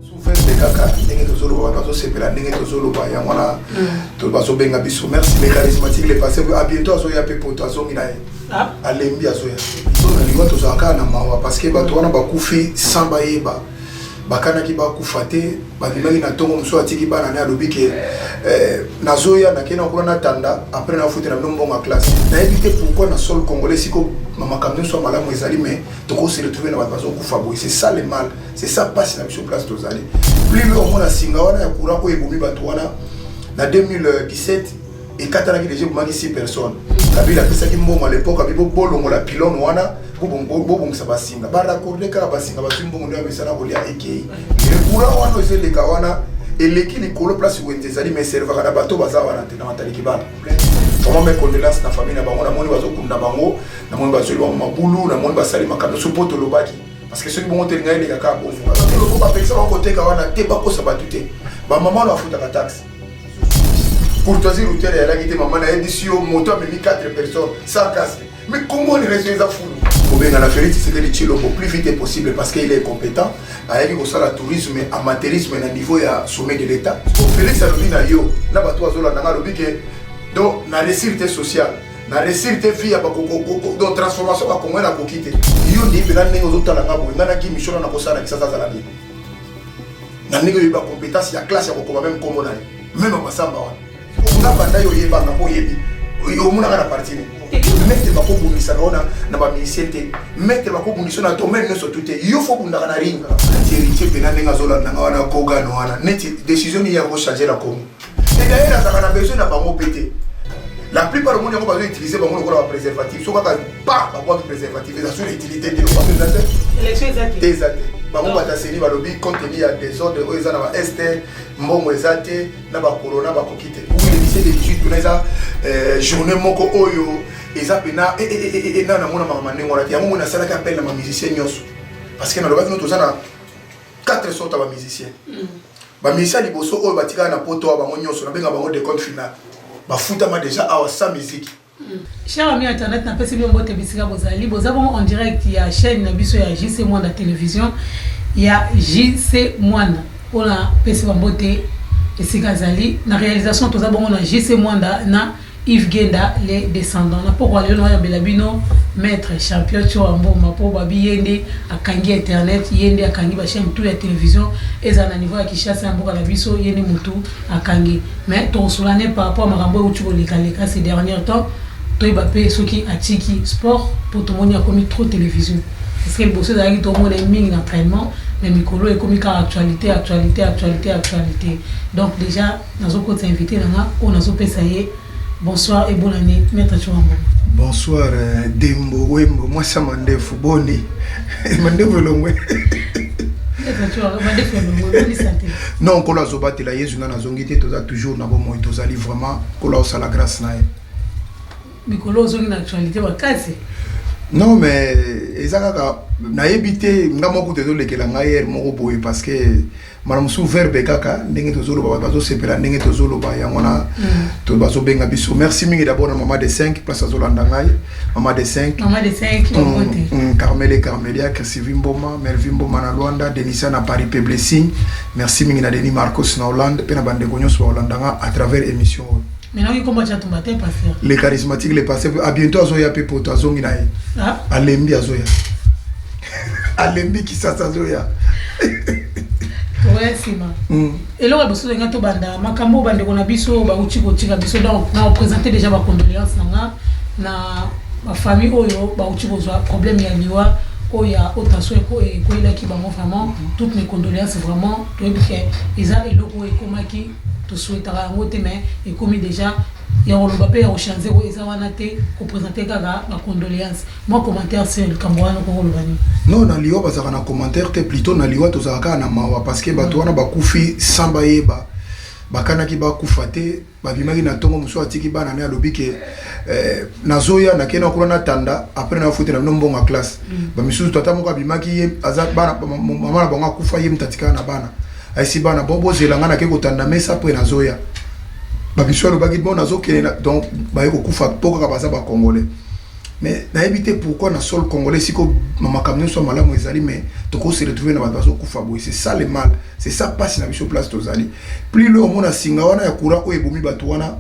Soufeste kaka ndenge tozoloba wana bazosepela ndenge tozoloba yango wana hmm. bazobenga biso merci le charismatique le passé a bientôt azoya mpe poto azongi na ye ah. alembi azoya so na lingwa tozala kaka na mawa parce que bato wana bakufi sans bayeba bakanaki bakufa te babimaki na ntongo mosusu atiki bana ne alobi ke eh, nazoya nakei na kuna natanda apres nafutela bino mbongo ya classe nayebi te pourkui na sol congolais siko makambo nyonso ya malamu ezali mai tokosi retrouve na bato bazokufa boye c'est ça le mal c'est ça pasi na biso place tozali plus le omona singa wana ya courant oyo ebomi bato wana na 2017 ekatanaki deja ebomaki 6 personnes kabila apesaki mbongo à l'époque abi bobolongola pilone wana bobongisa basinga baraccorde kaka basinga bazwi mbongo nde bamesana kolia ekei le courant wana oyo ezeleka wana eleki likolo place wenze ezali mais servaka na bato baza wana te na mataliki bana vraiment mes condoléances na famille na bango namoni bazokunda bango namoni bazweli bango mabulu namoni basali makambo nyonso mpo tolobaki parce que soki bongo te ngai eleka kaka bongo bapekisa bango koteka wana te bakosa bato te bamama wana bafutaka taxe courtoisie routiere yalaki te mama nayebisi yo moto amemi 4 personnes sans casque mais comment les réseaux eza fulu kobengana félix tshisekedi tshilombo plus vite est possible parce qu'il est compétent ayaki kosala tourisme amateurisme na niveau ya sommet de l'état félix alobi na yo na bato azolanda nga alobi ke donc na résulté social na resir te fille ya donc transformation bakongwe nakoki te yo nde mpena ndenge ozotala nga boye ngai na gimi shona nakosala kisasa azala nini na ndenge oyebi bacompétence ya classe ya kokoma meme nkombo na ye meme masamba wana nga banda yo oyebanga mpo oyebi omonaka na parti nini maitre bakobundisaka ona na baminisien te maitre bakobundisa na domaine nyonso tu te yo fo obundaka na ringa heritier mpena ndenge azolandanga wana kogano wana neti décision nini ya kochange na congo Et d'ailleurs, nazalaka na besoin na bango mpe te. La plupart omoni yango bazo utiliser bango lokola ba préservatif. Soki kaka pa babwaki préservatif eza sur utilité te lokola eza te. Élection eza te. Eza te. bango bataseli balobi compte tenu ya desordre oyo eza na ba este mbongo eza te na bakorona bakoki te uelise de 18 kuna eza euh, journée moko oyo eza mpena eh, eh, eh, na namona makambo ndenge wana te yango ngo nasalaki appel na bamusicien nyonso parce que nalobaki no toza na 4 sorte ya bamusicien mm. Ba musiciens ya liboso oyo batikala na poto awa bango nionso nabenga bango decompte final bafutama dejà awa sans musique. Cher ami internet na pesi bino mbote bisika bozali boza bongo en direct ya chaine na biso ya JC Mwanda television ya JC Mwanda pona pesi ba mbote esika azali na realisation toza bongo na JC Mwanda na Yves Genda le descendant na pokua lelo na yambela bino maitre champion Tshoa Mboma po babi ye nde akangi internet ye nde akangi ba chaine tout ya television ezala na niveau ya Kinshasa ya mboka na biso ye nde mutu akangi mais tokosola ne par rapport makambo ewuti koleka leka ces derniers temps toyeba pe soki atiki sport po tomoni akomi trop television parce que liboso ezalaki tomona ye mingi na entraînement mais mikolo ekomi kaka actualité actualité actualité actualité donc dejà Nazo kotisa invite na nga oyo nazo pesa ye bonsoir et bonne année maître Tshoura Mboma. Bonsoir euh, Dembo Wembo mwasi ya mandefu boni mandefu elongwe non nkolo azobatela yezu nga nazongi te toza toujours na bomoi tozali vraiment nkolo aosala grâce na ye mikolo ozongi na actualité makasi non mais eza kaka nayebi te nga moko te ezolekela ngai ere moko boye parce que mbala mosusu verbe kaka ndenge tozoloba bato bazosepela ndenge tozoloba yango wana mm. bazobenga biso merci mingi d'abord na mama de 5 place azolanda ngai mama de 5 mm, mm, carmele carmelia chrisivi mboma melvi mboma na luanda denisa na paris pe blessing merci mingi na denis marcos na hollande mpe na bandeko nyonso baolanda nga à travers émission oyo le charismatique le passé a bientôt azoya mpe poto azongi na ye ah. alembi azoya alembi kisasa azoya tokoya nsima hmm. eloko ya bosusu enga tobanda makambo oyo bandeko na biso bauti kotika biso donc na représente déjà bacondoléance na nga na bafamille oyo bauti kozwa problème ya liwa oyo ya haute tension ekweyelaki bango vraiment hmm. toutes mes condoléances vraiment toyebi ke eza eloko oyo ekomaki tosuetaka yango te mais ekomi déjà ya koloba mpe ya kochange oyo eza wana te kopresente kaka bacondoléance Mwa commentaire sur likambo wana okoki koloba nini? Non na liwa bazalaka na commentaire te plutot na liwa tozalaka kaka na mawa parce que bato wana bakufi sans bayeba bakanaki bakufa te babimaki na ntongo mosusu atiki bana ne alobi ke eh, nazoya nakei na kuna natanda apres nafutela bino mbongo ya classe mm. bamisusu tata moko abimaki ye aza bana mama na bango akufa ye moto atikala na bana aisi bana bo bozela ngai nakei kotanda mesa apres nazoya bamisusu alobaki bo nazokende donc baye kokufa mpo kaka baza bacongolais mais nayebi te pourquoi na sol congolais siko makambo nyonso ya malamu ezali mais toko se retrouver na bato bazokufa boye c'est ça le mal c'est ça mpasi na biso place tozali plus le omona singa wana ya courant oyo ebomi bato wana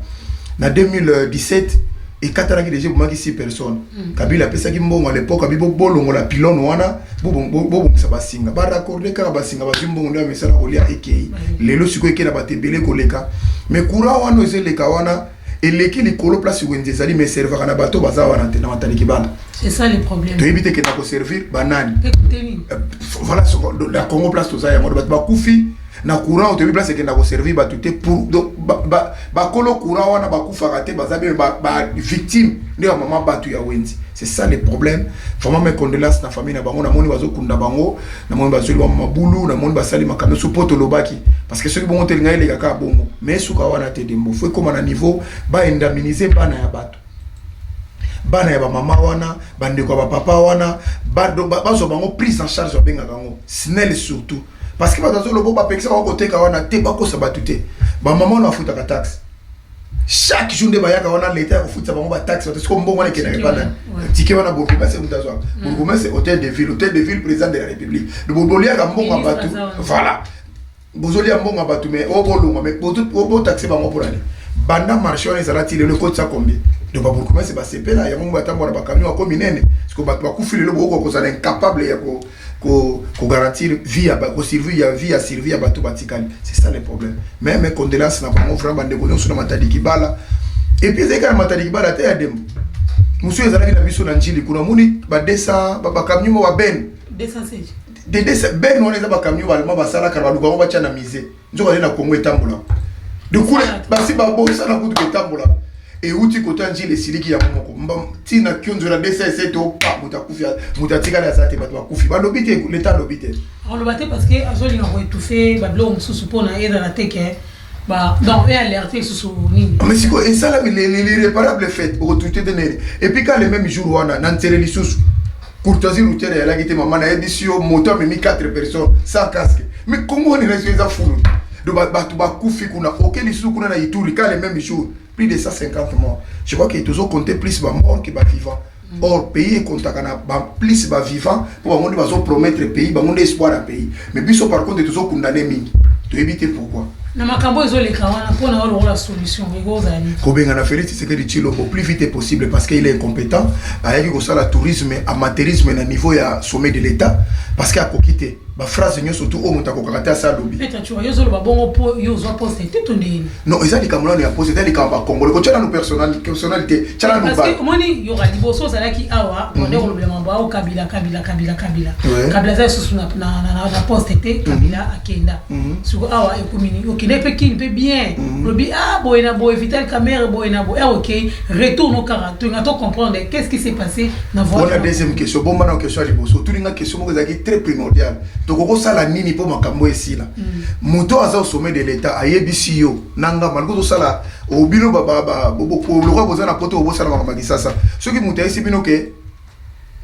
na 2017 ekatanaki deja ebomaki 6 personnes mm. kabila apesaki mbongo à l'époque abi bolongola pilone wana bobongisa basinga baraccorde kaka basinga bazwi mbongo nde ya misala kolia ekei lelo sikoyo ekei na bato ebele koleka mais courant wana ezeleka wana eleki likolo place wenze ezali mais servaka na bato baza wana te na matali kibanda c'est ça le problème toyebi te kenda ko servir banani euh, voilà la congo place toza yango bato bakufi na courant toyebi place ekenda ko servir bato te pour donc bakolo courant wana bakufaka te baza bee bavictime nde ya mama bato ya wenzi c'est ça le problème vraiment mes condoléances na famille na bango namoni bazokunda bango na moni bazweli bango mabulu na moni basali makambo nyonso mpo tolobaki parce que soki bongo te elingai eleka kaka bongo mais esuka wana te dembo fo ekóma na niveau baindaminise bana ya bato bana ya bamama wana bandeko ya bapapa wana bazwa bango prise en charge babengaka yango snel surtout parce que bato azolobo bapekisa bango koteka wana te bakosa bato te bamama wana bafutaka taxe chaque jour nde bayaka wana leta ya kofutisa bango bataxe bato siko mbongo wana ekendaka epa nani tike wana bourgmestre moto azwaka mm. bourgmestre hôtel de ville hôtel de ville président de la république boliaka mbongo ya bato voilà bozolia mbongo ya bato mais oyo bolongwa mais botaxe bango mpo nani banda marché wana ezala ti lelo ekotisa combien donc babourgmestre basepela yango ngo batambola na bacamion ako minene siko bato bakufi lelo bokoka kozala incapable ya ko ko garantir vie ya ko survie ya vie ya survie ya bato batikali c'est ça le problème même condoléances na bango vraiment bande ko nyonso na matadi kibala et puis ezalaki na matadi kibala te ya dembo mosusu ezalaki na biso na njili kuna moni ba 200 ba camion mo ba ben 216 de ben wana eza ba camion ba allemand basalaka baluka ngo batya na musée nzoka nde na kongo etambola dukule basi babosana kutu etambola euti kota njila esiliki yango moko ntina kionzo na dss to pa moto akufi moto atikali aza te bato bakufi balobi te leta alobi te aloba te parce que azolinga koetufe babiloko mosusu mpo na ezala te ke donc ealerte lisusu nini mais sikoyo esalami l'irréparable fete okotute te nene epuis ka le même jour wana na nzele lisusu Courtoisie routière ya laki te maman na yebisi yo moto amemi 4 personnes sans casque. Mais Congo ni raison eza fulu. Donc bato bakufi kuna oke lisusu kuna na Ituri quand le même jour plus de 150 morts. Je crois que tozo compter plus ba morts que ba vivants. Mm. Or pays ekontaka na ba plus ba vivants pour bango nde bazo promettre pays bango nde espoir ya pays. Mais biso par contre tozo condamner mingi. Toyebi te pourquoi. Na makambo ezo leka wana mpo na olo la solution ekozala nini? Kobenga na Felix Tshisekedi Tshilombo plus vite possible parce qu'il est incompétent. Ayaki kosala tourisme, amateurisme na niveau ya sommet de l'État parce que akoki te. Ba phrase nyonso tu oyo moto akokaka te asa alobi. Peter Tshura yo ozoloba bongo mpo yo ozwa poste te to ndenge nini? Non, eza likambo nano ya posa, eza likambo ya Congolais. Kotya nano personnalité, personnalité, tya nano Parce que omoni yoka liboso ozalaki awa, bonde mhm. kolobela mambo ao Kabila, Kabila, Kabila, Kabila. Kabila aza lisusu na na na na poste te, mhm. Kabila akenda. Mhm. Siko awa ekomi nini? Okende mpe kini mpe bien. Lobi ah boye na boye Vital Kamerhe boye na boye. Ah ok, retourne au Kara. Tu n'as pas comprendre qu'est-ce qui s'est passé na voie. Voilà deuxième question. Bomba na question liboso. Tulinga question moko ezalaki très primordiale. tokokosala nini mpo makambo oyo esila mm. moto aza au sommet de l'état ayebisi yo na nga maliko tosala obino lokola boza na poto obosala makambo ya kisasa soki moto ayebisi bino ke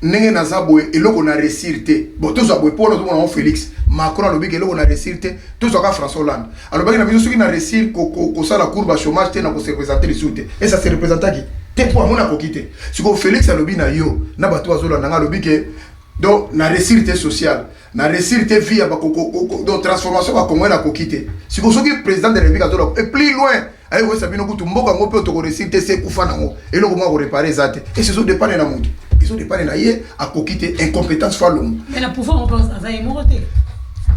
ndenge naza boye eloko na resir te bon tozwa boye mpo nazomona yango félix macron alobi ke eloko na resir te tozwaka françois hollande alobaki na biso soki na resir kosala courbe ya chômage te na kose représente lisusu te e ça se représentaki te mpo amona akoki te sikoyo félix alobi na yo na bato bazolanda ngai alobi ke Donc na ressir te social, na ressir te vie ya ba koko koko. Donc transformation ba Congolais na koki te. Siko soki president de la République azola et plus loin aye koyesa bino kutu mboka yango mpe toko ressir te se kufa nango eloko moko akoreparer eza te esi ezodepane na moto ezodepane na ye akoki te incompétence fa longo Mais na pouvoir moko aza ye moko te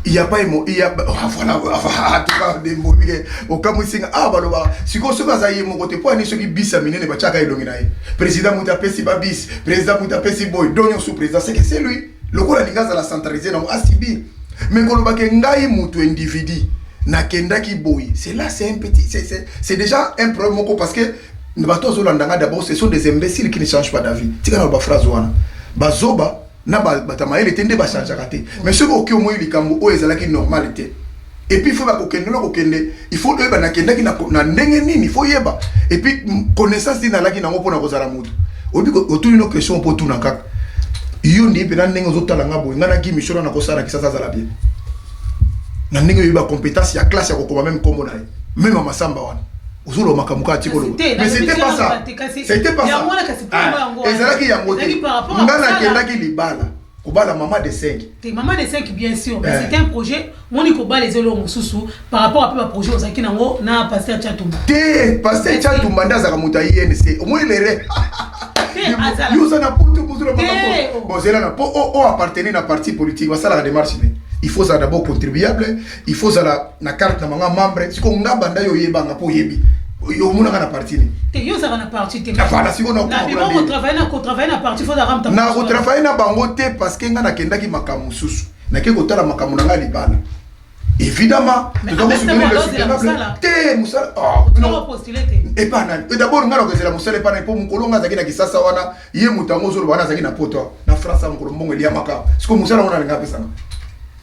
il y a pas emo il y a ah, voilà en ah, tout cas des mots bien au kamusinga ah baloba siko soki aza ye moko te po ani soki bis ya minene batiaka elongi na ye président moto apesi ba bis président kuta apesi boye do nyonso président seke se lui lokola alingi azala centralise nango asibi me kolobake ngai moto individu nakendaki boye c'est là c'est un petit c'est déjà un problème moko parce que bato azolanda ngai d'abord ce sont des imbéciles qui ne change pas d'avis tika na baphrase wana bazoba na bato ya mayele te nde bachangeaka te mais soki oki omoi likambo oyo ezalaki normal te Et puis faut na kokende na kokende il faut oyeba nakendaki na, na ndenge nini il faut yeba et puis connaissance nini nalaki nango mpo na kozala moto oyebi otuni no question mpo otuna kaka yo ndii mpenza ndenge ozotala nga boye ngai naki misolo na kosala na kisasa azala bien na ndenge oyebi bacompétence ya classe ya kokoma meme nkombo na ye meme ya masamba wana ozoloba makambo kaka ti koloba mais c'était pas ça c'était pas ça ah, ezalaki yango te ngai nakendaki libala kobala mama de 5 te mama de 5 bien sûr mais eh. c'est un projet moni kobala eza eloko mosusu par rapport ape baprojet ozalaki nango na paster chatumba te paster chatumba nde azalaka moto ya inc omoni lere yo oza na poto bozela bozela na po o appartenir na parti politique basalaka démarche nini il faut ozala d'abord contribuable il faut zala na carte na manga membre siko nga banda yo yeba nga po yebi yo mona nga na parti ni te yo zaka na parti te afala siko na na bima ko travailler na ko travailler na parti faut zaka mta na ko travailler na bango te parce que nga na kendaki makamu susu na ke ko tala makamu na nga libala évidemment toza kosoutenir le soutenable te mosala epa nani dabord ngai nakozela mosala epa nani mpo mokolo ngai azalaki na kisasa wana ye moto yango ozoloba wana azalaki na poto na france ya mokolo mbongo eliamaka sikoyo mosala ngo nalinga apesanga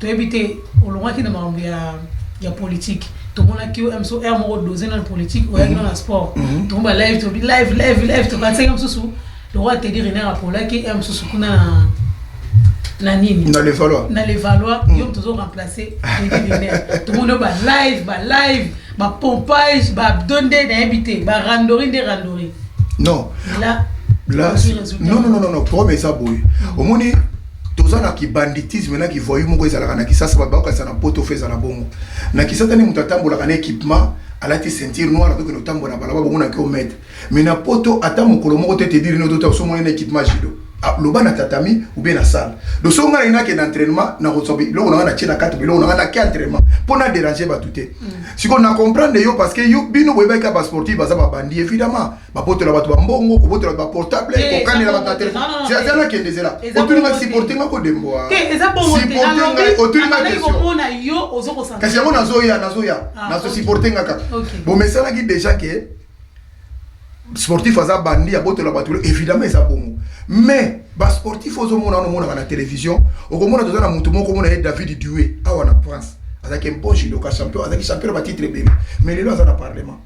Toyebi te olongaki na makambo ya ya politique tomonaki yo mso heure moko dose na politique oyaki mhm. na sport mhm. tokoba live tobi live live live tokanisaki mosusu lokola tedi rene apolaki heure mosusu kuna na na nini na levaloi na levaloi mhm. yo tozo remplacer tedi rene tomoni yo ba live ba live ba pompage ba abdo nde nayebi te ba randori nde randori non là là non non non non problème eza boye omoni Toza na ki banditisme na ki voyou moko ezalaka na kisasa batu bakokanisa na poto faut ezala bongo na kisasa nde mutu atambolaka na equipement alati ceinture noire akoki kende kotambola na balaba bongo na ki ometre mais na poto ata mokolo moko te te dire no tota osomoni na equipement judo ah, loba na tatami ou bien na salle donc soki ngai na kende entraînement na kozwa biloko na ngai na tie na kati biloko na ngai na ki entraînement mpo na déranger bato te mm. sikoyo na comprendre yo parce que yo bino boyebaki ka ba sportif baza babandi évidemment babotola bato bambongo kobotola bato baportable eh, kokanela bato na telefone nakende zela otuni ngai siporte ngai kodemboa otuni ngai question kasi yango nazoya nazoya ah, nazosiporte ngai kaka bomesanaki déjà ke sportif aza bandi abotola bato évidemment eza bongo mais basportif ozomona wana omonaka na télévision okomona toza na moto moko omona ye david due awa na france azalaki mpo judoka champion azalaki champion na batitre ebele mais lelo aza na parlement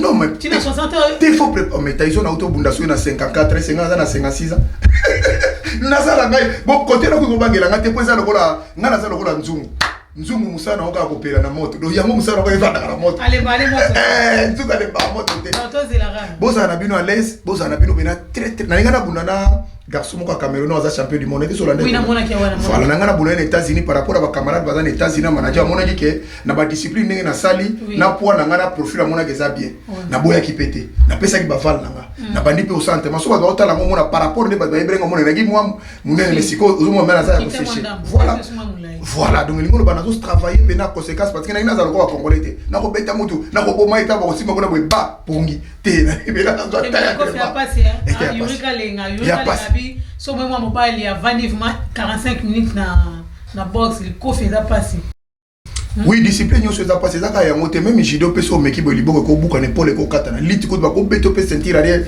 non mais ti na 60 ans te faut préparer oh, mais Tyson auto bunda soki na 54 et 50 ans na 56 ans naza na ngai bon côté na ko bangela ngai te po eza lokola ngai naza lokola nzungu nzungu mosala na okaa kopela na moto donc yango mosala nako efandaka na moto eh, nzungu alembaka moto te bozala na bino alaise bozala na bino pena traitre na linga nabunda na garçon moko ya cameroun aza champion du monde ekisola nde voilà na ngai nabunda na états-unis par rapport ya bacamarade baza na états-unis ya manager amonaki ke na badiscipline ndenge nasali oui. na poids na ngai na profil amonaki eza bien oui. naboyaki mpe te napesaki bavale na ngai mm. nabandi mpe osante maso bato baotala yango omona par rapport nde bato bayebeli yango monenaki mwa monene me sikoyo ozomona mela aza ya koseshe voilà voilà donc elingi oloba nazo travaille mpe na conséquence parce que nangi naza lokola congolais te nakobeta motu nakoboma eta bakosimba kuna boye ba pongi te nayebela nazwa taya so mwe mwa mobali avandi vraimen 45 minutes na na box likofi eza mpasi Hmm. oui discipline nyonso eza mpasi eza kaka yango te meme judo mpe so omeki boye liboko ekobukana epole ekokatana liti kutu bakobeta mpe sentire alie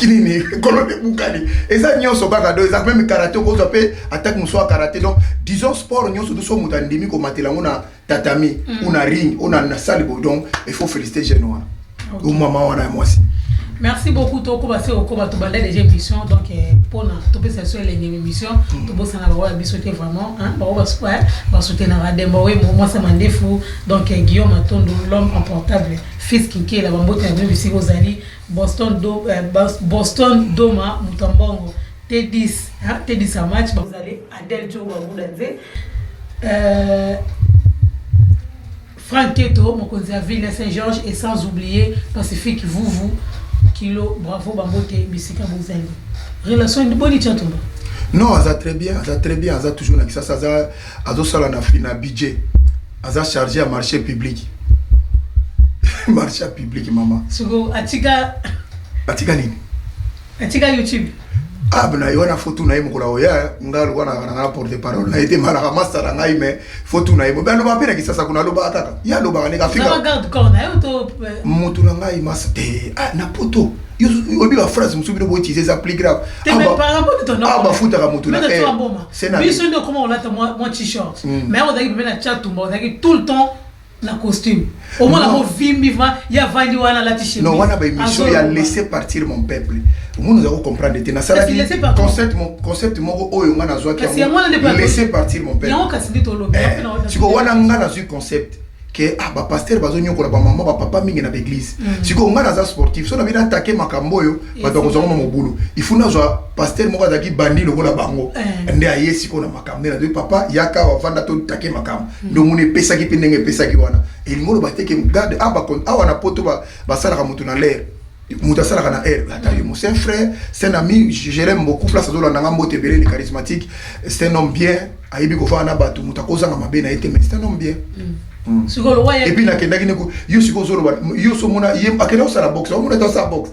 nini kolona ebukani eza nyonso kaka do eza meme karate okozwa mpe atake mosusu ya karate donc disons sport nyonso biso moto andimi komatela yango na tatami hmm. ou na ring ou na sale bodon il faut féliciter jeune wana ou maman wana ya mwasi merci beaucoup tokoba se okoba tobanda déjà émission donc mpona euh, topesa biso elenge émission mm. tobosana bango ya biso te vraiment bango basoutenaka demba oye mwasi ya mandefu donc euh, guillaume matondo l'homme emportable fils kinkela bambote na bino bisika ozali boston do, euh, boston doma moto ya mbongo t10 t10 ya match bazali adel jo babuda nze Franck Keto, mokonzi ya ville ya Saint Georges et sans oublier Pacifique Vuvu kilo bravo bambote bisika bozali. Relation boni Tshatumba? Non, aza très bien, aza très bien, aza toujours na Kisasa, aza azosala na fina budget. Aza chargé ya marché public. marché public mama. Siko atika atika nini? Atika YouTube. Ab na yona fotu na ye mokolo akoya nga lokola nalaka na nga na porte parole na ye te malaka masta na ngai mais fotu na ye mobe alobaka mpe na kisasa kuna alobaka kaka ye alobaka ndenge afika motu na ngai masta te ah, na poto oyebi ba phrase mosusu bino boutilize eza plus grave awa bafutaka motu na biso nde okoma kolata mwa t-shirt mais ozalaki pembe na chatumba ozalaki tout le temps na costume omona ko vimbi va ya vandi wana lati chemise non wana ba émission ya laisser partir mon peuple omona za ko comprendre te na sala ki concept mon concept moko oyo nga na zwa ki laisser partir mon peuple yango kasi ndito lobi eh, siko wana nga na zwi concept ke ah, bapastere bazonyokola bamama bapapa mingi na baeglize mm. sikoyo ngai naza sportif so na bino atake makambo oyo bato bakozwa ngoma mobulu ifu nazwa paster moko azalaki bandi lokola bango eh. nde aye sikoyo na makambo nde nazwi papa yaka wafanda totake makambo hmm. nde omoni epesaki mpe ndenge epesaki wana elingi oloba te ke garde ah, awa na poto basalaka moto na lere moto asalaka na aire ata yo c'est un frère c'est un ami je l'aime beaucoup place azolanda nga mbote ebele le charismatique c'est un homme bien ayebi kofana na bato moto akozanga mabe na ye te mais c'est un homme bien hmm. Mm. sikoyo lokola epuis nakendaki neko yo sikoyo ozoloba yo so omona ye akenda kosala boxe omona ete osala boxe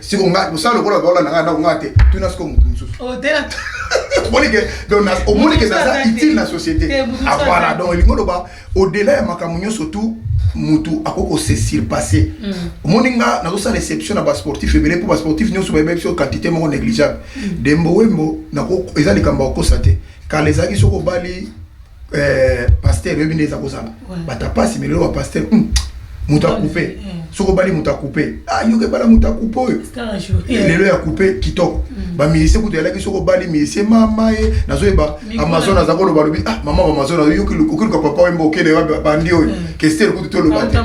siko nga kosala lokola baola na ngai ndako ngai te tuna siko moto mosusu oh, omoni ke donc omoni ke naza utile na société ah, voilà donc elingi oloba au-delà ya makambo nyonso tout mutu akoki kose surpasse mm. omoni nga nazosala exception na basportif ebele mpo basportif nyonso bayebi biso quantité moko négligeable mm. dembo wembo eza likambo ya kokosa te kala ezalaki soki obali eh, pasteur oyebi nde eza kozala bata pasi melelo ba pasteur hmm, moto akupe eh. soki obali moto akupe ah, yoka ebala moto akupe oyo eh, lelo ya kupe kitoko hmm. bamisie kutu yalaki soki obali misie mama ye nazoyeba amazon aza koloba lobi ah mama amazon okiluka papa wemba okende wapi bandi oyo hmm. kestere kutu toloba te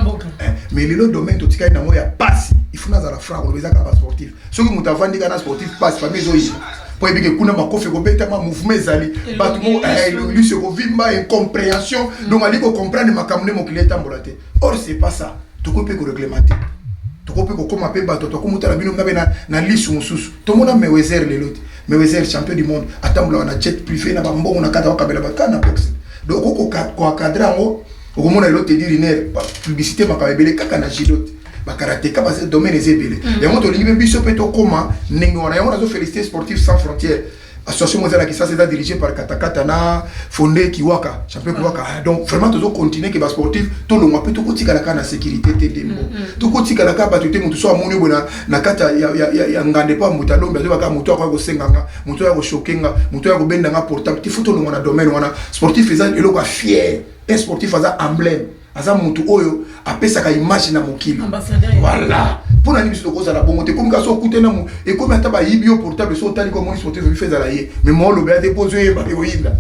mais lelo domaine totikali nango ya pasi ifuna azala franc koloba eza kaka basportif soki moto avandi kana sportif passe famille ezoyina mpo ebike kuna makofi ekobetama mouvement ezali bato moko eh, elongilusu ekovimba incomprehension mm. donc ali kocomprendre makambo nde mokili etambola te or c'est pas ça tokoki mpe koreglementer tokoki mpe kokóma mpe bato tokomotala bino ngabe na, na lisu mosusu tomona mewezer lelo te mewezer champion du monde atambolaka na jet privé na bambongo na kata bakabela bato kaka na boxe donc okoki koencadre yango okomona lelo tedi riner publicité makambo ebele kaka na gidote bakarateka baza domaine eza ebele mm. yango tolingi mpe biso mpe tokóma ndenge wana yango nazo félicité sportif sans frontière association moko ezalaki sasa eza dirigé par katakata na fonde kiwaka champion mm. kiwaka ah, donc vraiment tozo continuer ke basportif tolongwa mpe tokotikala kaka na sécurité te ndembo mm, mm. tokotikala kaka bato te moto so amoni oyo boye na kati ya ngande mpo moto alombi azoba kaka moto akoya kosenga nga moto oyo akochoke nga moto oyo akobenda nga portable ti fo tolongwa na domaine wana sportif eza eloko ya fier un sportif aza emblème aza mutu oyo apesaka image na mokili voilà mpo na nini biso tokozala bongo te ekomi kasi okute na ekomi ata bayibi yo portable so otali komoni sote ezoki fe ezala ye me mwa olobela te mpo ozoyeba ekoyinda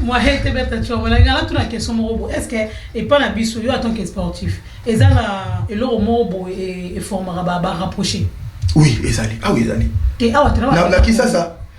mwa hete beta tiomola ngala tuna question moko boye est ce que epa na biso yo atant que sportif eza na eloko moko boye eformaka barapproche oui ezali awa ah ezali te awa na kisasa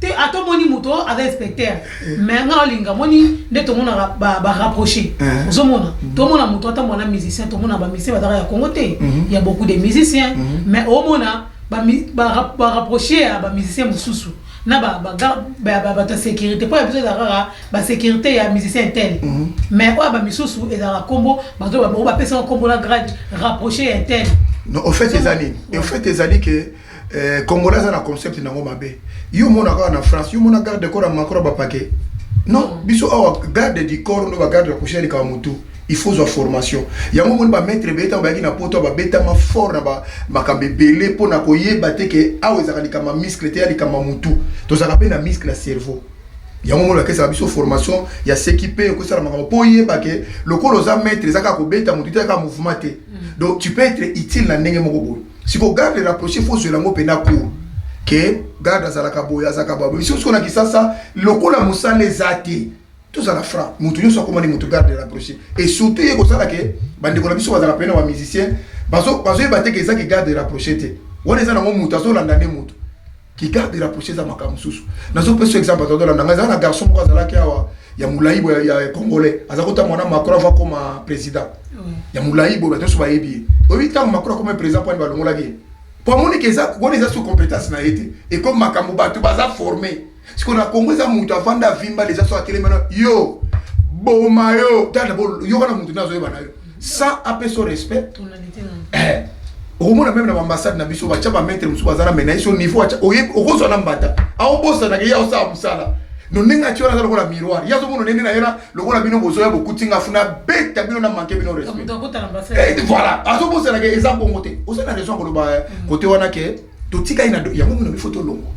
te ata omoni moto oyo aza inspecteur eh. mais nga olinga moni nde tomonaka barapproche eh. ozomona mm-hmm. tomona moto atambola na musicien tomona bamusicien bazaka ya congo te mm-hmm. ya beaucoup de musicien mm-hmm. mais omona barapproche ya bamusicien mosusu na bato ya sécurité mpo ya biso ezalaka kaka basécurité ya musicien tel mais oyo ya bamisusu ezalaka nkombo bato bapesaka nkombo na grade rapproche ya tel au fait ezali au fait ezali ke Eh, congolais aza na concept nango mabe yo omona kaka na france yo omona garde corps ya makro bapake non biso awa garde du corps ndo bagarde ya kusha likaba motu il faut zwa formation yango omoni bamaitre ebele ntango bayaki na poto babetama fort na makambo ebele mpo na koyeba te ke awa ezalaka likambo ya miskle te ya likambo ya motu tozalaka mpe na miskle ya cerveau yango moni bakesaka biso formation ya seki mpe okosala makambo mpo oyeba ke lokola oza maitre eza kaka kobeta motu te eza kaka mouvement te mm. donc tu peux être utile na ndenge moko boye siko garde rapproché faut zwela ngo pena cour ke garde azalaka boye azalaka baboye biso siko na kisasa lokola mosala eza te tozala franc moto nyonso akoma nde moto garde rapproché et surtout ye kosala ke bandeko na biso bazalaka pene na bamusicien bazoyeba te ke eza ke garde rapproché te wana eza nango moto azolanda nde moto ki garde rapproché eza makambo mosusu nazopesa yo exemple azalaki olanda ngai ezala na garçon moko azalaki awa ya molai boye ya congolais aza kota mwana macron ava koma président ya molai boye bato nyonso bayebi ye oyebi ntango macron akoma président mpo ani balongolaki ye mpo amoniki eza wana eza sous compétence na ye te ekomi makambo bato baza forme siko na congo eza moto avanda avimba leza so atelemana yo boma yo tala yokana moto nde azoyeba na yo sans apesa yo respect eh, okomona meme na baambassade na biso batya bamaitre mosusu baza na menaise yo niveau atya okozwa na mbata aobosanaka ye aosala mosala no ndenge atya wana aza lokola miroir ye azomona ndenge na ye na lokola bino bozoya bokuti nga funa beta bino na manke bino respect eh, voilà azobosanaka eza bongo te oza na raison koloba kote eh, mm. wana ke totika ye na do yango mona bifo tolongwa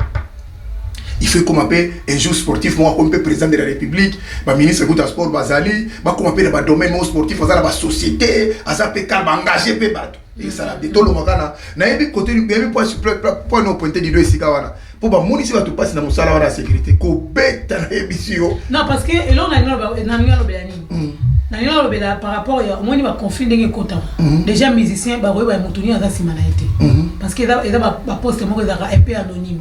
il faut ekoma mpe un jour sportif moko akomi mpe président de la république baministre kutu ya sport bazali bakoma mpe na badomaine moko sportif aza na basociété aza mpe kala baengage mpe bato esala te tolonga kana nayebi kote nayebi mpo na pointe dido esika wana mpo bamonisi bato mpasi na mosala wana ya sécurité kobeta nayebisi yo mm. nalingi nalobela par rapport ya omoni baconflit ndenge ekotaka mm. déjà musicien bakoyeba moto nini aza nsima na ye te mm-hmm. parce que eza baposte moko ezalaka un peu anonyme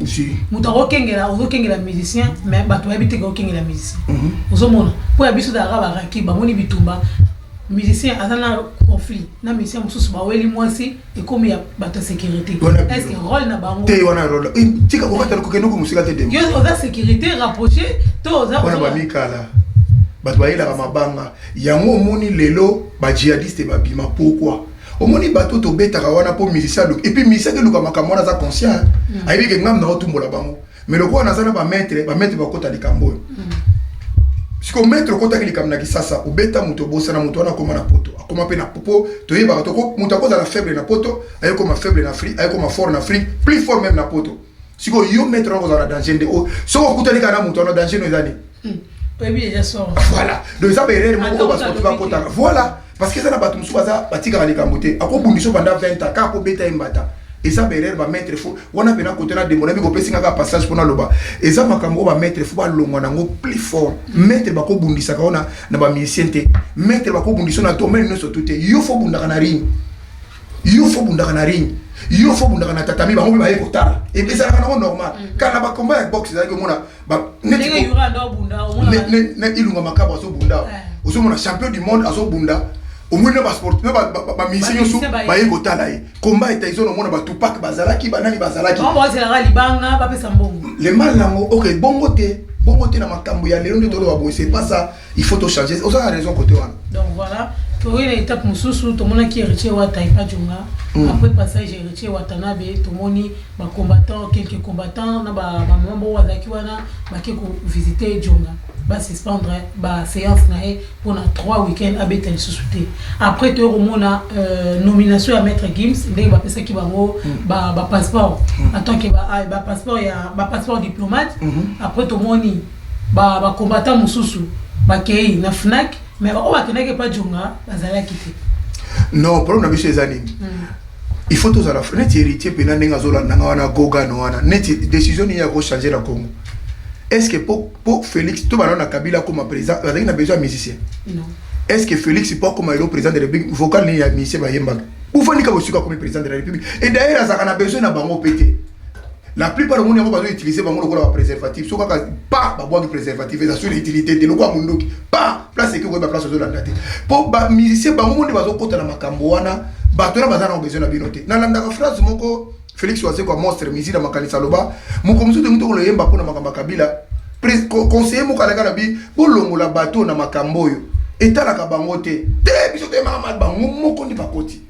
moto akokengela ozokengela musicien mais bato bayebi te kokengela musicien mm-hmm. ozomona mpo ya biso ezalaka baraki bamoni bitumba musicien aza na conflit na musicien mosusu baweli mwasi ekomi ya bato ya securite est-ce que role na bango te wana role eh, tika kokata kokende ko musika te demo yo oza securite rapproché to oza wana bamikala bato bayelaka mabanga yango omoni lelo bajihadiste babima pourquoi omoni bato tobetaka wana mpo musicien aluki epuis musicien akeluka makambo wana aza conscient mm. ayebi ke ngambo na otumbola bango me lokola naza na bametre bametre bakota likambo oyo mm. siko metre okotaki likambo na kisasa obeta moto obosana moto wana akoma na poto akoma mpe na po toyebaka toko moto akozala faible na poto ayekoma faible na afrique ayekoma fort na afrique plus fort meme na poto siko yo metre wana kozala na danger nde oyo soki okutani kaka na moto wana danger no eza nini hmm. voilà donc eza baerreur moko basportif bakotaka voilà parce que eza na bato mosusu baza batikaka likambo te akobundisa yo banda 20 ans kaka akobeta ye mbata eza baerreur bamaitre fo wana mpena kote na demona miko opesi ngaka passage mpo naloba eza makambo oyo bamaitre fo balongwa nango plus fort maitre bakobundisaka ona na bamusicien te maitre bakobundisa na domaine nyonso tu te yo fo obundaka na ring yo fo obundaka na ring yo fo obundaka na tatami bango mpe baye kotala ezalaka nango normal mm. kala na bakomba ya box ezalaki omona na ilunga makabo azobunda ozomona champion du monde azobunda omoni na basport na bamusicien nyonso baye kotala ye combat etaison omona batupak bazalaki banani bazalaki le mal nango ok bongo te bongo te na makambo ya lelo nde toloba boye sepasa il faut to changer oza na raison côté wana donc voilà toye na étape mosusu tomonaki héritier wata epa jonga mm. après passage héritier watanabe tomoni bacombattant quelques combattants na bamama bo bazalaki wana bake kovisite jonga basuspendre baséance na ye mpona 3 week-end abeta lisusu te après toye komona euh, nomination ya maître gims ndenge bapesaki bango mm. bapasseport en tant que bapasseport diplomate mm-hmm. après tomoni Ba ba combattants mosusu bakeyi na Fnac mais ba oyo bakendaki epa Djonga bazalaki te. Non problème na biso eza nini? Il faut tozala neti héritier pena ndenge azolanda nga wana gogan wana neti décision nini ya ko changer na Congo? Est-ce que po po Felix to bana na Kabila akoma président azalaki na besoin ya musicien? Non. Est-ce que Felix po akoma lelo président de la République vocal nini ya musicien bayembaka? Bofandi kaka bosiko akomi président de la République et d'ailleurs azalaka na besoin na bango pe te. la plupart omoni yango bazo utiliser bango lokola ba préservatif so kaka pa babwaki préservatif eza sur utilité te lokola mondoki pa place eke koyeba place ozolanda te mpo bamusicien bango moni bazokota na makambo wana bato wana baza nango besoin na bino te nalandaka phrase moko félix wazekwa monstre misi na makanisi aloba moko mosusu te moto okoloyemba mpo na makambo ya kabila conseiller moko alaka na bi bolongola bato na makambo oyo etalaka bango te te biso toyemaka bango moko nde bakoti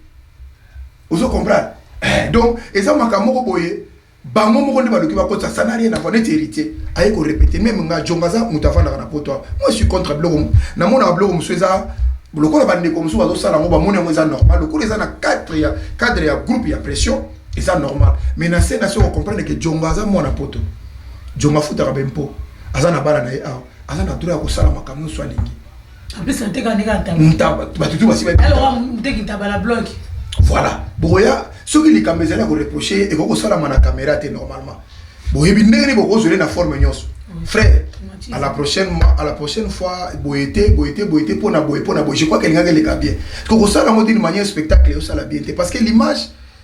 ozo comprendre eh, donc eza makambo moko boye bango moko nde baluki bakotisa ça n'a rien à voir neti héritier aye korepete meme nga jonga aza moto afandaka na poto awa moi suis contre biloko namonaka biloko mosusu eza lokola bandeko mosusu bazosala yango bamoni yango eza normal lokola eza na cadre ya cadre ya groupe ya pression eza normal mais na se na se okomprendre ke jonga aza mwana poto jonga afutaka bempo aza na bana na ye awa aza na droit ya kosala makambo nyonso alingi En plus, nteka ndeka ntaba. Ntaba, bato tu basi ba. Alors, nteki ntaba la bloc. Voilà. Boya, soki likambo ezali ya koreproche ye ekoki kosalama na kamera te normalement boyebi ndenge nini bokozwele na forme nyonso frère à la prochaine à la prochaine fois boye te boye te boye te mpo na boye mpo na boye je crois que elingaki eleka bien kokosala yango d'une manière spectacle osala bien te parce que l'image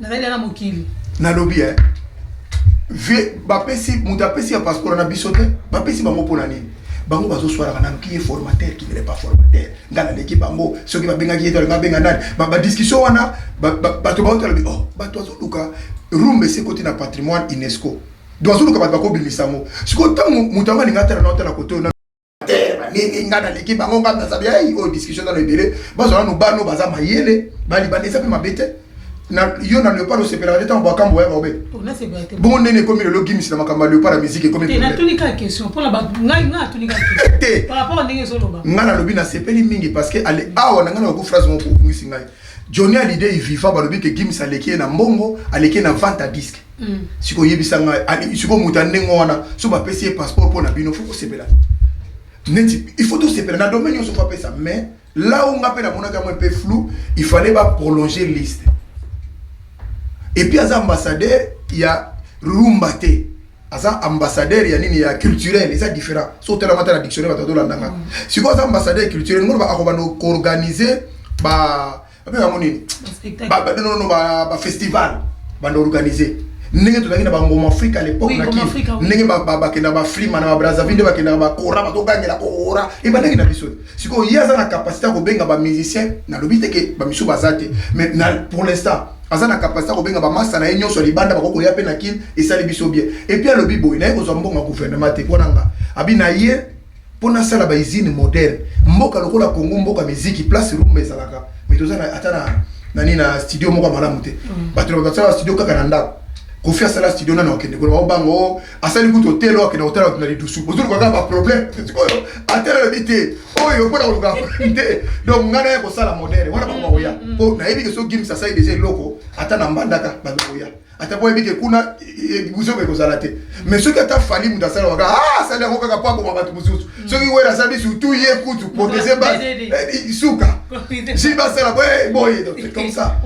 nazali na mokili nalobi eh, vie bapesi moto apesi ya passeport na biso te bapesi bango mpo na nini bango bazoswalaka nanu ki ye formateur ki nele pas formateur ngai naleki bango soki babengaki ye tolinga abenga nani badiscussion wana bato baoto alobi o oh, bato azoluka rumba esi ekoti na patrimoine unesco donc azoluka bato bakobimisa yango sikoyo ntango moto yango alinga atala na otala kote oyo te baningi ngai naleki bango ngai nazabi ei oyo discussion nano ebele bazwa nano bano baza mayele balibanda eza mpe mabe te yo na leopard osepelaka te ntango bakambo oya baobeta bongo ndeni ekomi lelo gimis na makambo ya leopard ya miziki ekomi te ngai nalobi nasepeli mingi parce que ale awa na ngai nakoki phrase moko kobungisi ngai johnny alide iviva balobi ke gimis aleki ye na mbongo aleki ye na vente ya disque Mm. siko yebisa ngai alingi siko moto ya ndenge wana so bapesi ye passeport mpo na bino fo kosepela neti il faut tosepela na domaine nyonso fo apesa mais là o nga mpe namonaki yango mpe flou il fallait baprolonger liste epuis aza ambassadeur ya rumba te aza ambassadeur ya nini ya culturel eza différent so otalama ata na dictionnaire bato azolandanga mm. sikoyo aza ambassadeur culturel ngoloba akobanda koorganize ba abenga yango nini badonono bafestival banda organise ndenge tozalaki na bangoma afrika lepoke na kini ndenge bakenda baflima na babrazaville nde bakendaka bakora batogangela koora ebandaki na biso sikoyo ye aza na kapasité ya kobenga bamusicien nalobi te ke bamisu baza te mais pour l'instant aza na kapasité ya kobenga bamasa na ye nyonso ya libanda bakoki koya mpe na kini esali biso bien epuis alobi boye naye kozwa mbongo ya gouvernement te mpo na nga abi na ye mpo nasala ba usine moderne mboka lokola congo mboka miziki place rumba ezalaka me toza ata na nani na studio moko ya malamu te mm. bato na basala studio kaka na ndako kofi asala studio nano akende koloba oh, obango oh, asali kutu otelo akende kotala bato na lidusu ozoluka kaka baproblème oyo atela lobi te oyo mpo na koluka te donc ngai naya kosala modele wana bango bakoya mpo mm, mm, nayebi ke so gims asali deja eloko ata na mbandaka bato bakoya ata mpo ayebi ke kuna ebuzo eh, ekozala te mais soki ata fali moto asala waka ah, asali yango kaka mpo aboma bato mosusu mm. soki wera asali surtout ye kutu protege base eh, suka si basala eh, boye comme ça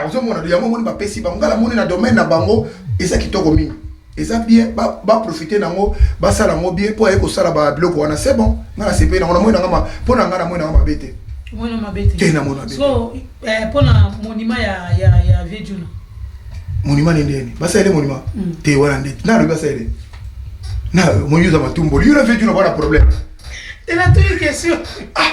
ozomona yango moni bapesi bango ngala moni na domaine na bango eza kitoko mingi eza bien ba, ba profiter nango basala yango bien mpo aye kosala ba biloko wana c'est bon ngai nasepeli nango namoni nanga mpo na ngai namoni nanga mabe te omona mabe te te namona mabe so eh, mpo na monima ya, ya, ya vie juna monima nde ndeni basalele monima mm. te wana nde nalobi basalele na moyi oza matumboli yo na vie juna bwana problème te natuni question ah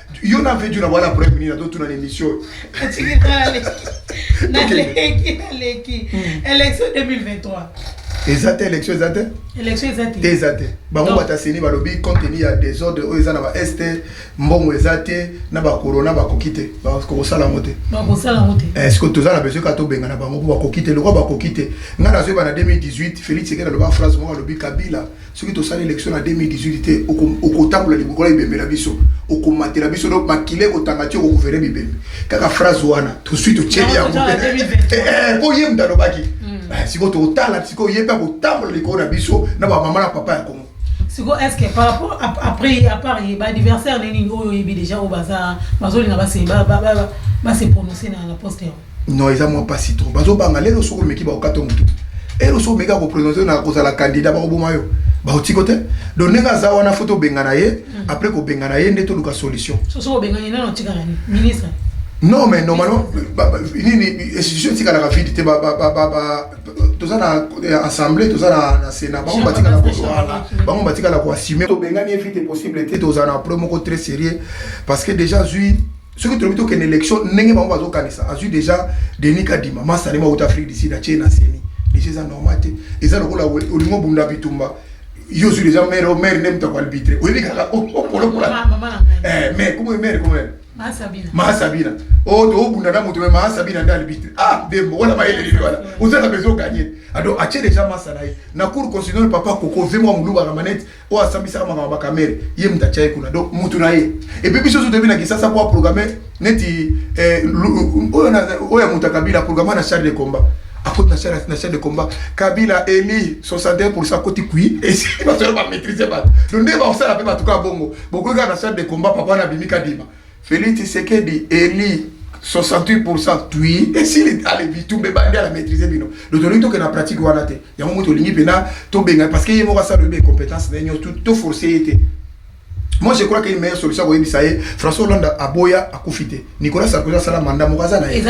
yo na vetu na bwana prime nini atotuna na émission naleki naleki hmm. élection 2023 eza te élection eza te te eza te bango bataseni balobi contenu ya désordre oyo eza na ba est mbongo eza te na bacorona bakoki te bakosala yango te eske eh, toza na besoin ka tobengana bango mpo bakoki te lokola bakoki te ngai nazoyeba na 2018 félix ekele aloba phrase moko alobi kabila soki tosali election na 2018 te okotambola liboko na bibembe na biso okomatela biso donc makila ekotanga ti okokuvere bibembe kaka phrase wana tosui totyeli yango eh, eh, po ye moto alobaki hmm. eh, sikoyo tokotala sikoyo ye mpe akotambola likolo na biso na bamama na papa ya kongo sikoyo est ce que par rapport après à part ye baadversaire nini oyo oyebi déjà oyo bazolinga base prononce na poste yango non eza mwa mpasi trop bazobanga lelo soki omeki bakokata motu elo soki omeki akoprononce na kozala kandida bakoboma yo baotiko te donc ndenge aza wana fo tobengana ye hmm. après kobengana ye nde toluka solution non mais normalement nini institution etikalaka vide te toza na assemblée toza na sénat bango batikala koala bango batikala koassume tobengani ye vite possible te tozala na pro moko très sérieux parce que déjà zui soki tolobi tokende élection ndenge bango bazokanisa azwi déjà denis kadima masalema auta afrique du sud atie na seni déjà eza normal te eza lokola olingi obunda bitumba yo ozwi déjà maire maire nde moto akoarbitre oyebi kaka opolopola mais komo maire komo mahasabina o tobunda na moto me mahasabina nde arbitre ah dembo wana mayele lili wana oza na besoin oganye ado atie déjà masa na ye na cour constitutionnel papa koko ve mwa molubaka manete oyo asambisaka makambo ba kamere ye mutu atya ye kuna donc mutu na ye epuis biso ozo toyebi na kisasa mpo aprograme neti eh, oyo ya mutu ya kabila aprograma na charge de combat akoti na charge na charge de combat kabila eli 61 pourcent akoti kui esili bato yalo bamaîtrise bato donc nde bakosala mpe bato kaka bongo bokoki kaka na charge de combat papa na abimi kadima Felix Tshisekedi eli 68% tui esili ale bitumba ebandi ala maîtrise bino donc tolingi tokende na pratique wana te yango moto olingi mpena tobenga parce que ye moko asala oyebi incompétence na ye nyonso toforce ye te moi je crois que une meilleure solution koyebisa ye françois hollande aboya akufi te nicolas sarkozy asala manda moko aza na ye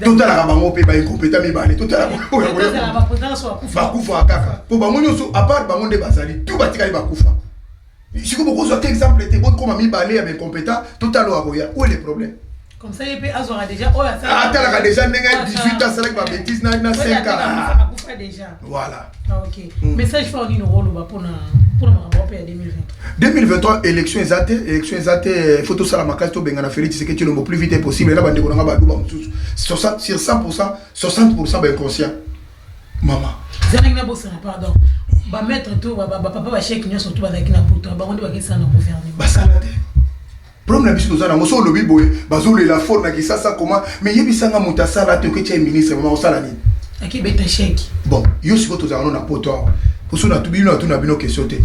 totalaka bango mpe baincompétent mibale totalabakufaka kaka mpo bango nyonso apart bango nde bazali tu batikali bakufa Siko bokozwa te exemple te bokoma mibale ya incompetent totala oyo akoya oyo le problème comme ça ye mpe azwaka déjà oyo asala atalaka déjà ndenge 18 ans asalaki ba bêtise na na 5 ans akufa déjà voilà ah, ok mm. message fort nini okoloba mpona mpona makambo wape ya 2023 2023 élection eza te élection eza te eh, faut tosala makasi tobengana félix tshisekedi tshilombo plus vite possible na bandeko na nga baluba mosusu sur 100 60 ba inconscient mama zanaki na bosana pardon ba maître to ba ba papa ba chèque nyoso to bazaki na poto bango nde bakisa na gouvernement basala te problème na biso toza nango so olobi boye bazolela fort na kisasa koma mais yebisanga moto asala te oketia ye ministre mama osala nini akibeta chèque bon yo sikoyo tozala no na poto awa poso bino natuna bino question te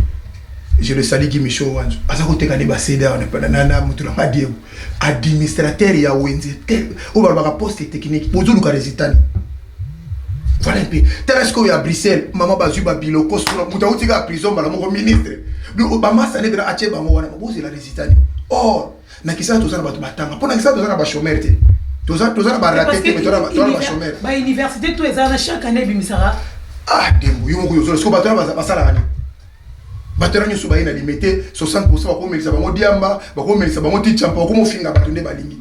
je le sali gimicho wanzo aza koteka nde basede awa na moto na ngai diego administrateur ya wenze te oyo balobaka poste technique bozoluka resultat voilà mpe tala sikoyo ya bruxelles mama bazwi babiloko suna moto auti kaka prison mbala moko ministre bamasa nde mpena atye bango wana bozela resultat nini or na kisasa toza na bato batanga mpo na kisasa toza na bachomere te toza na barate te toza na bachomere bauniversité to ezala na chaque année ebimisaka ah dembo yo moko yozolo siko bato wana basalaka nini bato wana nyonso baye na limete 60 pourcent bakomelisa bango diamba bakomelisa bango ti champa bakomofinga bato nde balingi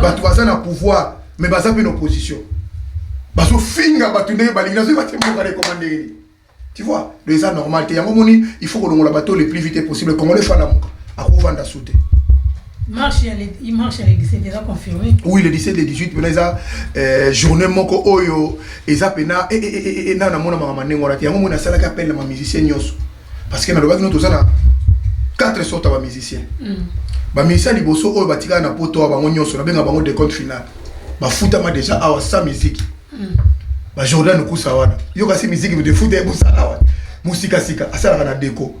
bato baza na pouvoir mais baza mpe na opposition bazofinga bato ndenge balingi nazoki batie mboka lekoma ndenge nini tu vois donc eza normal te yango moni il faut kolongola bato le plus vite possible congolais fo alamuka akovanda su te Marche ya le, marche ya le 17 eza confirmé. Oui, le 17 le 18 pena eza euh, journée moko oyo eza pena e eh, e eh, e eh, e e na na mona mama ndenge wana te. Yango mona salaka appel na ma musicien nyoso. Parce que na lobaki no tozana quatre sortes ya ba musiciens. Mm. Ba musiciens liboso oyo batikala na poto bango nyoso na benga bango de compte final. Bafutama déjà awa sans musique. ba Jordan Lukusa wana yo kasi miziki de futa ye mosala wana mosikasika asalaka na deko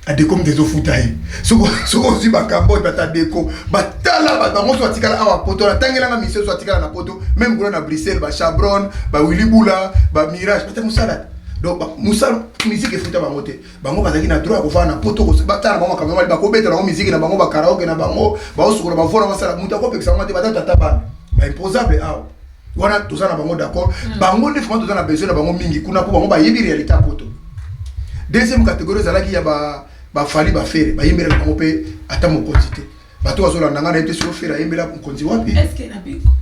adeko moto ezofuta ye soki ozwi makambo oyo bata deko batala bato bango so atikala awa poto natangelanga misio so atikala na poto meme kuna na bruxelles bachabron bawili bula bamirage bata mosala te donc mosala miziki efuta bango te bango bazalaki na droit ya kofana na poto batala na bango makambo mali bakobeta bango miziki na bango bakaraoke na bango baosukola bavona basala moto akopekisa bango te bata tata bana baimposable awa wana toza na bango d'accord mm. bango nde vraiment toza na besoin na bango mingi kuna mpo bango bayebi réalité ya poto deuxième catégorie ezalaki ya bafali ba bafere bayembelaka bango mpe ata mokonzi te bato bazolanda ngai nayebi te soki ofere ayembela mokonzi wapi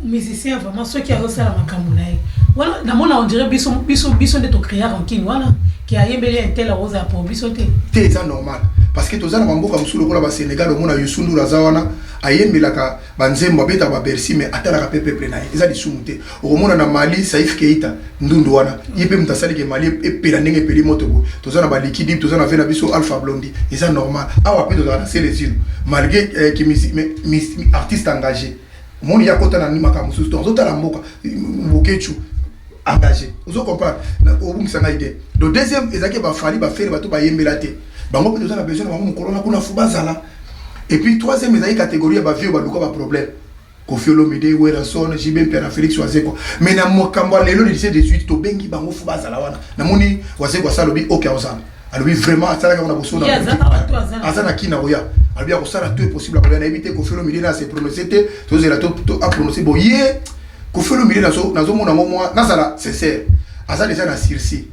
musicien vraiment soki azosala makambo na ye wana namona ondire biso biso biso nde tocrea rankine wana ke ayembeli intel akozala po biso te te eza normal parce que toza na bamboka mosusu lokola basénégal omona yusundura aza wana ayembelaka Ba nzembo abetaka ba bercy mais atalaka pe peuple na ye eza lisumu te okomona na mali saif keita ndundu wana ye pe moto asali ke mali epela ndenge epeli moto boye toza na ba likidib toza na ve na biso alpha blondi eza normal awa pe tozala na selezino malgre eh, ki misi, mais, mis, artiste engage omoni ya kota na makambo mosusu to azotala mboka bokechu engage ozo comprendre obungisa ngai te do deuxième ezalaki bafali bafere bato bayembela te bango pe toza na besoin na bango mokolo na kuna fo bazala Et puis troisième ezali catégorie ya ba vieux baluka ba problème. Koffi Olomide, Werrason, JB Mpera, Felix Wazekwa. Mais na makambo ya lelo le 17 18 tobengi bango fo bazala wana. Namoni Wazekwa sa alobi okay ozala. Alobi vraiment asalaka na bosono. Aza na kina oya. Alobi akosala tout est possible akoya na yebi te Koffi Olomide na se prononcer te. Tozela to to a prononcer bo ye. Koffi Olomide nazo nazo mona ngo moi nazala sincère. Aza déjà na sursis.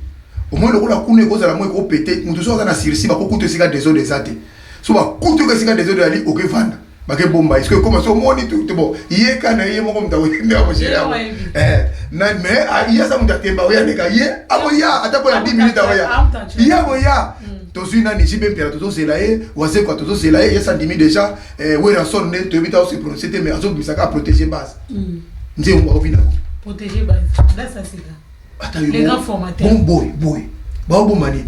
Au moins lokola kuna ekozala moi ko péter. Mutu so aza na sursis bakokuta esika desordre eza te. so bakuti oka esika desordre ali oke vanda bake bomba eske ekoma so omoni tu te bon ye ka na ye moko moto akoyende akosele yango eh, na me ah, ye aza moto atemba oya leka ye akoya ata mpo na 10 minute akoya ye akoya mm. tozwi nani jibe mpela tozozela ye wazekwa tozozela ye ye sandimi déjà eh, werason nde toyebi ta ose prononce te mais azobimisaka aprotege base mm. nzembo akovinako ata yo Les grands formateurs. bon boy boy bao boma nini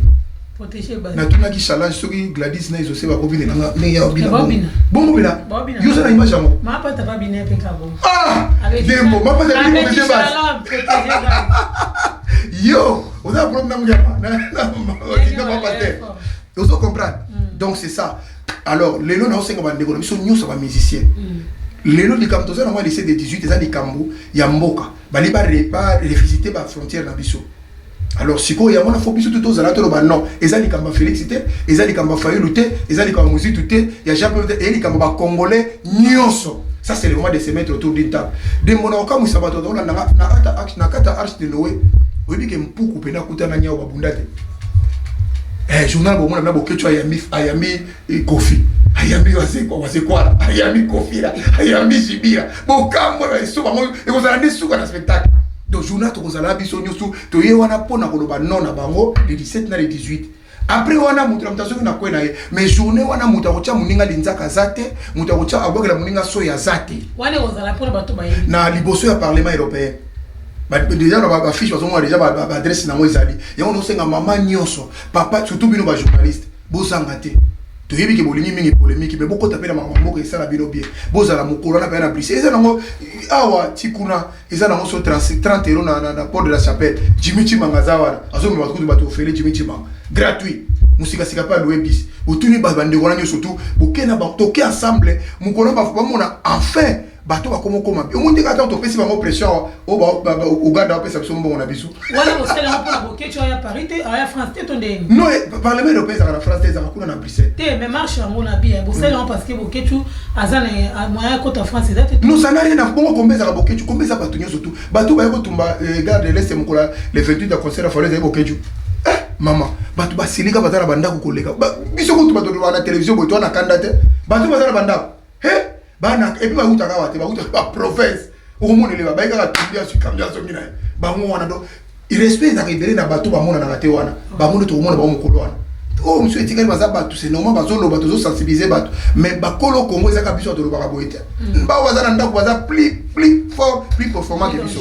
Protéger base. natunaki shalage soki gladis na ezose bakobi lela nga ndenge ya obina Babina. bongo bela Babina. yo oza na image yango Ma pata ba bine pe ka bon. ah Avec dembo Charlotte- mapata bini avec protéger base Charlotte, protéger base. yo oza na problème na muyama na Ndenge mapata ba- te ozo comprendre donc c'est ça alors lelo naosenga bandeko na biso nyonso bamusicien lelo likambo toza na mwa lycée de 18 eza likambo ya mboka bali ba revisite ba frontière na biso alors sikoyo yango na fo biso tu tozala toloba non eza likambo ya félix te eza likambo ya fayulu te eza likambo ya mozitu te ya jean claude te eye likambo bacongolais nyonso ça c'est le mois de se mettre autour d'une table de mona okamwisa bato tolanda na kata arche de noe oyebi ke mpuku mpe nakutana nyao babunda te eh, journal bomona mna boketso ayambi ayambi Et Kofi, ayambi wazekwa wazekwala ayambi kofira ayambi jibira bokambo na esoba yango ekozala nde suka na spectacle donc journal tokozala biso nyonso toye wana mpo na koloba non na bango le 17 na le 18 après wana moto na moto azoki na kwe na ye mais journée wana moto akotya moninga linzaka aza te moto akotya abwakela moninga soyi aza te na liboso ya parlement européen déjà na bafiche bazomona déjà baadresse na yango ezali yango nosenga mama nyonso papa surtout bino bajournaliste Bozanga te. toyebi ke bolingi mingi polemiki me bokota mpe na makambo mboka esala bino bien bozala mokolo wana mpenza na brise eza nango eh, awa ti kuna eza nango so 30 euro na, na, na port de la chapelle jimi cimanga aza wana azomema kutu bato ofele jimi cimanga gratuit mosikasika mpe aloue bis botuni bandeko wana nyonso tu boke na toke ensemble mokolo bamona enfin bato bakoma okoma mpe omoni ndenge ata topesi bango pression awa oh, uganda bapesa biso mbongo na biso non eh, parlement européen ezalaka na france te ezalaka kuna na bruxelles te mais marche yango na bia bosali yango parce que bokecu aza na eh, moyen ya kota france eza te non ça n'a rien à bongo kombe ezalaka bokecu kombe eza bato nyonso tu bato baye kotumba eh, garde de l'est mokola le 28 ya concert ya falo ezali bokecu mama bato basilika baza na bandako koleka biso kutu bato tolobaka na televizio boye toa na kanda te bato baza na bandako he bana epuis bawutaka awa te bawutaka ba province okomona eleba bayi kaka tumbia sukambi azongi na ye bango wana donc irespect ezalaka ebele na bato bamonanaka te wana bango nde tokomona bango mokolo wana oyo oh, mosusu etikali baza bato se normal bazoloba tozosensibilize bato mais bakolo kongo ezaka biso tolobaka boye te mm. bao baza na ndako baza plus plus fort plus performant ke biso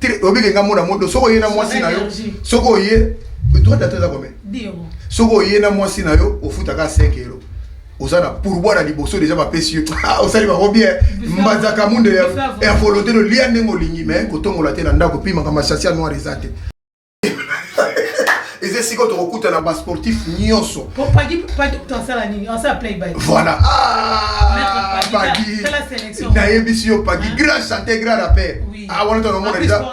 te oyebi ke nga mona moto soki oye na mwasi na yo soki oye droit data eza combien soki oye na mwasi na yo ofutaka 5 euro oza na pourboire na liboso deja bapesi yo ah, osali bango bien mbanzaka munde ya volonté lolia ndenge olingi mais kotongola te na ndako pimaka masasi ya noir eza te eza esika tokokutana basportif nyonso voilà ah, nayebisi yo pagi grand chanteur grand rappeur ah, wana tonaomona deja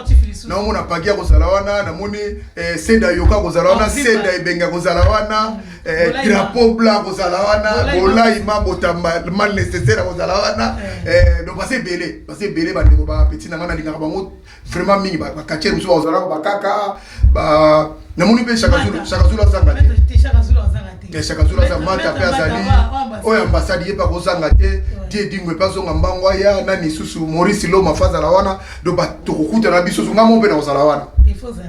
naomona pagi akozala wana namoni eh, seda yoka akozala wana seda ebenge akozala wana mm. eh, drapeau blanc akozala wana bolaima botamba mal nécessaire akozala wana eh. donc base ebele base ebele bandeko bapeti na ngai nalingaka bango vraiment mingi ba quartier musu ba zala ba kaka ba na moni pe shaka zulu shaka zulu azanga te shaka zulu azanga te shaka zulu azanga mata pe azali oyo ambassade yepa ko zanga te tie dingwe pe azonga mbango ya nani susu Maurice Loma fazala wana do ba tokokuta na biso zunga mo pe na kozala wana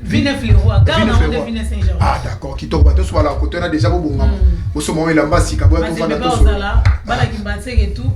Vine Fleroy, Vine Fleroy. Vine Saint Georges. Ah d'accord, kitoko bato so bala koto na déjà bobonga. Oso mo elamba sika boya to fana to so. Bala kimbatseke tout.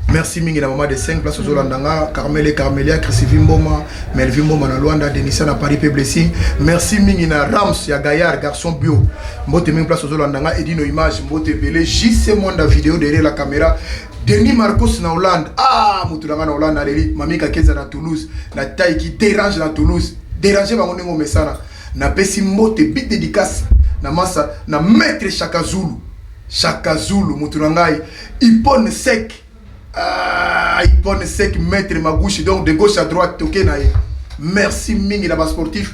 merci mingi na mama de 5 place ozolanda nga carmele carmelia chrisivi mboma melvi mboma na luanda denisa na paris pe blessing merci mingi na rams ya gaillard garçon bio mbote mingi place ozolanda nga edino image mbote ebele jc mwanda video derrière la caméra Denis Marcos na Hollande. Ah, mutu na na Hollande aleli Mami Kakeza na Toulouse, na taille qui dérange na Toulouse. Déranger bango ndenge omesana. Na pesi mbote big dédicace na masa na maître Shaka Zulu. Shaka Zulu mutu na ngai Ipone sec. Ah, Ipone sec maître Magushi donc de gauche à droite toke na ye. Merci mingi na ba sportif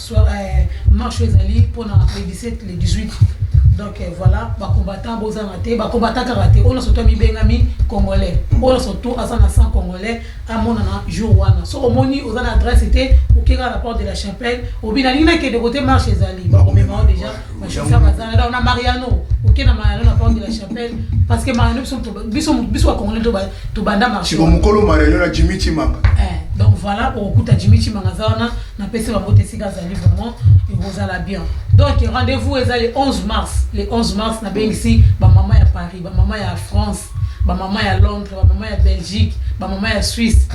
Euh, marche ezali mpona le 17 le 18 donc euh, voilà bacombattant bozanga te bacombattant kaka te oyo nyonso to amibengami congolais oyo nyonso to aza na sang congolais amonana jour wana so omoni oza na adresse te okeka na porte de la chapelle obi nalingi nakende kote marche ezali bakomemao déjà bachauffeur bazanga donc na mariano oke na mariano na porte de la chapelle parce que mariano biso biso bacongolais tobanda marche mokolo mariano na jimi chimanga eh, donc voilà okokuta jimi chimanga aza wana Na pesi bango te sika azali vraiment ekozala bien. Donc rendez vous eza le 11 mars le 11 mars na bengisi ba maman ya Paris ba maman ya France ba maman ya Londres ba maman ya Belgique ba maman ya Suisse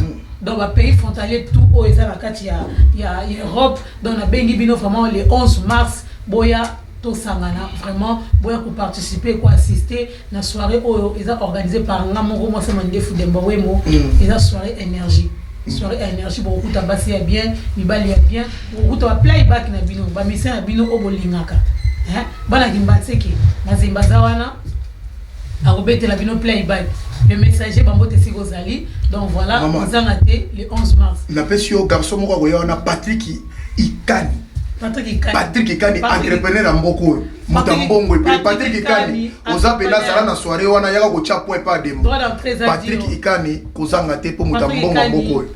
donc ba pays frontalier tout oyo eza na kati ya ya Europe donc na bengi bino vraiment le 11 mars boya tosangana vraiment boya ko participer ko assister Na soiree oyo eza organise par nga moko mwasi ya mandefu Demba Wembo, eza soiree energie. Soiree ya energie bokokuta basi ya bien, mibali ya bien, bokokuta ba playback na bino, ba musiciens na bino oyo bolingaka. Hein? Bana Kimbanseke, Mazemba aza wana akobetela bino playback. Le messager bambote esika ozali. Donc voilà, Maman. ozanga te le 11 mars. napesi yo garçon moko akoya wana patrick ikani Patrick Ikani. patrick ikani Patrick- entrepreneur ya mboka oyo moto ya mbongo epele patrik ikani oza mpena azala na soire wana yaka kotya po epa adembo patrik ikani kozanga te mpo moto ya mbongo ya mboka oyo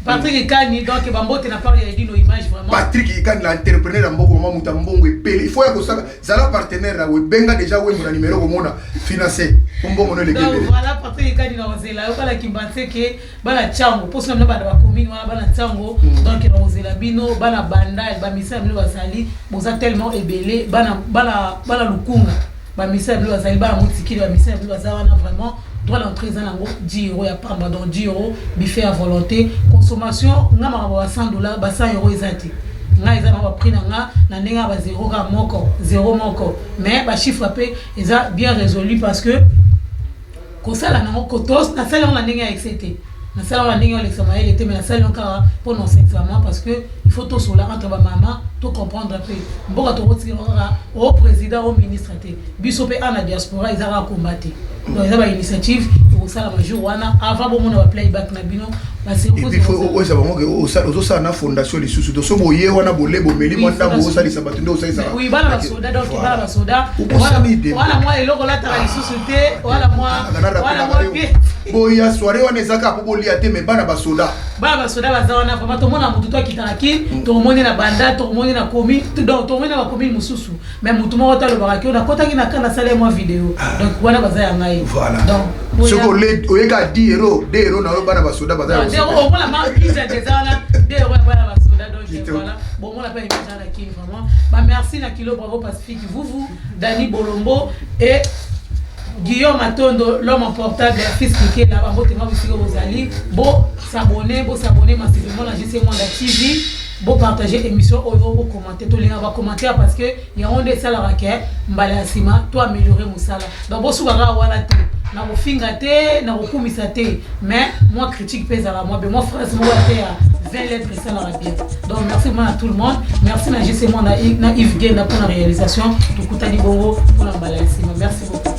Patrick Ikani, donc Bambote n'a pas réagi nos images vraiment. Patrick Ikani, l'entrepreneur Mboko, maman Mouta Mbongo et Pelé. Il faut que ça, ça la partenaire là, Benga déjà où mon numéro au monde financé. Mbongo ne le Donc voilà Patrick Ikani dans Zela, voilà qui pensait que bana ntango mposo na bino bana bakomini wana bana ntango mm. donc na kozela bino bana bandal bamisala bino bazali boza tellement ebele bana, bana, bana lukunga bamisala bino bazali bana motikili bamisala bino baza wana vraiment droit d'entrée eza nango 10 euro ya pamba donc 10 euro bife ya volonté consommation nga makambo ba 100 dollar ba 100 euro eza te ngai eza nango baprix na nga na ndenge ya bazero kaka moko zero moko mais bachiffre mpe eza bien résolu parce que kosala nango kotos nasali yango na ndenge ya excès te nasala yango na ndenge olekisa mayele te mais nasali yango kaka mpo na osexuellement parce que il faut tosola entre bamama to comprendre mpe mboka tokotikela kaka o président o ministre te biso mpe ana diaspora eza kaka komba te donc eza bainitiative tokosalama jour wana avant bomona baplayback na bino epuis fo okoyesa bango ke ozosala na fondation lisusu to so boye wana bole bomeli mwa ndambo osalisa bato nde osalisaaboya soire wana eza kaka po bolia te me bana basoda bana basoda baza wana vraimen tomona motu to akita na kin tomoni na banda tomoni na komi tomoni na bakomi mosusu mais mutu moko te alobaka ke nakotaki na ka nasala ye mwa video ah. donc wana baza ya ngai soki oyeka di hero de hero na yo bana basoda bazaomona mabiza deza wana de hero ya bana basoda donc voilà bomona mpe eza na king vraiment bamerci na kilo bravo pacifique vuvu dani bolombo et guillaume atondo l'homme en portable ya fils mikela bango tenga bosika bozali bosabone bosabone masivemona jc mwanda tv bopartage émission oyo bokoma te tolingaka ba commentaire parce que yango nde esalaka ke mbala ya nsima to améliorer mosala donc bosuka kaka wana te na kofinga te na kokumisa te mais moi critique mpe ezalaka mwa be mwa phrase moko te ya 20 lettres esalaka bien donc merci vraiment à tout le monde merci na justement na yves genda mpona réalisation tokutani bongo mpona mbala ya nsima merci beaucoup